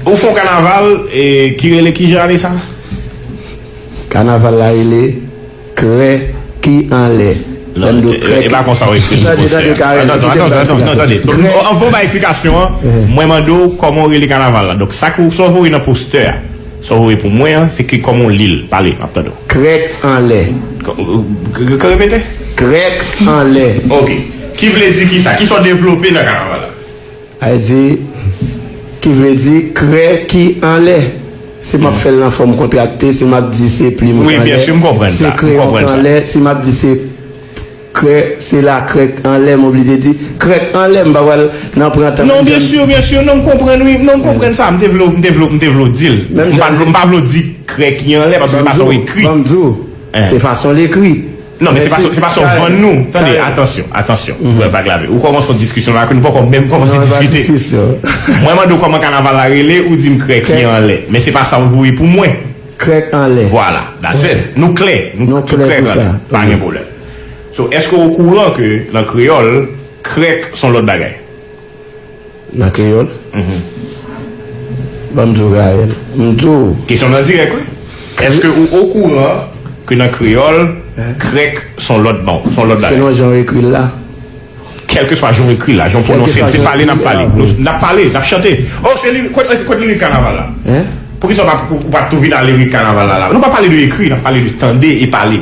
Ou fon kanaval ki rele ki jan ane sa? Kanaval la rele Krè ki anlè. E pa konsa ou ekri l sou postè a. Tande, tande Karen. Tande, tande, tande, tande, tande. Anvan ou bay eksplikasyon an, mwen mande ou kòman ou rele kanaval la. Donk sa ou voye nan postè a, sa ou voye pou mwen an, se ki kòman ou li l. Pale, m ap tande w. Krèk anlè. Ka repete? Krèk anlè. Ok. Ki vle di ki sa? Ki sa ou devlope nan kanaval la? Ayiti, ki vle di krè ki anlè. Si m ap fè l nan fòm kontrakte, si m ap di se plim k anlè, se kreyon k anlè, si m ap di se krè, se lakrè k anlè, m oblije di krè k anlè. M pa pral nan pran tan. Non, byensi, byensi. Non, m konprann wi. Non, m konprann sa. M te vle w, m te vle w di l. M pa vle w di krè ki anlè, paske se fason w ekri. Ban m di w, se fason l ekri. Non men se pa sa w vann nou. Tande, atansyon, atansyon. Frè Vag Lave, ou kòmanse yon diskisyon la ak nou poko menm kòmanse diskite. Mwen mande w kòman kanaval la rele, ou di m krèk ki anlè. Men se pa sa w voye pou mwen. Krèk anlè. Vwala, that's it. Nou klè. Nou klè sou sa. Pa gen pwoblèm. So, èske w okouran ke nan kreyòl, krèk s on lòt bagay? Nan kreyòl? Banm di w Gaël, m di w. Kesyon nan dirèk wi. Èske ou okouran ke nan kreyòl, krèk s on lòt ban, s on lòt bagay? Selon jan w ekri l la? Kèlkeswa jan w ekri l la, jan w pwononse l, se pale n ap pale. N ap pale, n ap chante. O, se lirik, kot lirik kanaval la? Hein? Poukisa ou pa tou vin a lirik kanaval la la? Nou pa pale de ekri, n ap pale de tande e pale.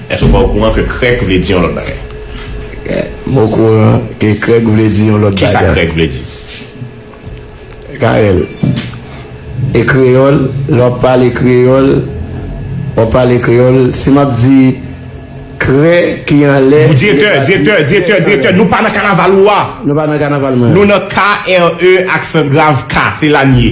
Èske ou pa okouran ke krèk vle di yon lòt bagay? M okouran ke krèk vle di yon lòt bagay. Kisa krèk vle di? Carel, E kreyòl? Lè w ap pale kreyòl, w ap pale kreyòl. Si m ap di krè ki anlè, li pa di krè. Direktè, direktè, direktè, direktè, nou pa nan kanaval ou a! Nou pa nan kanaval mwen an. Nou nan KRE aksangrav ka, se la n ye.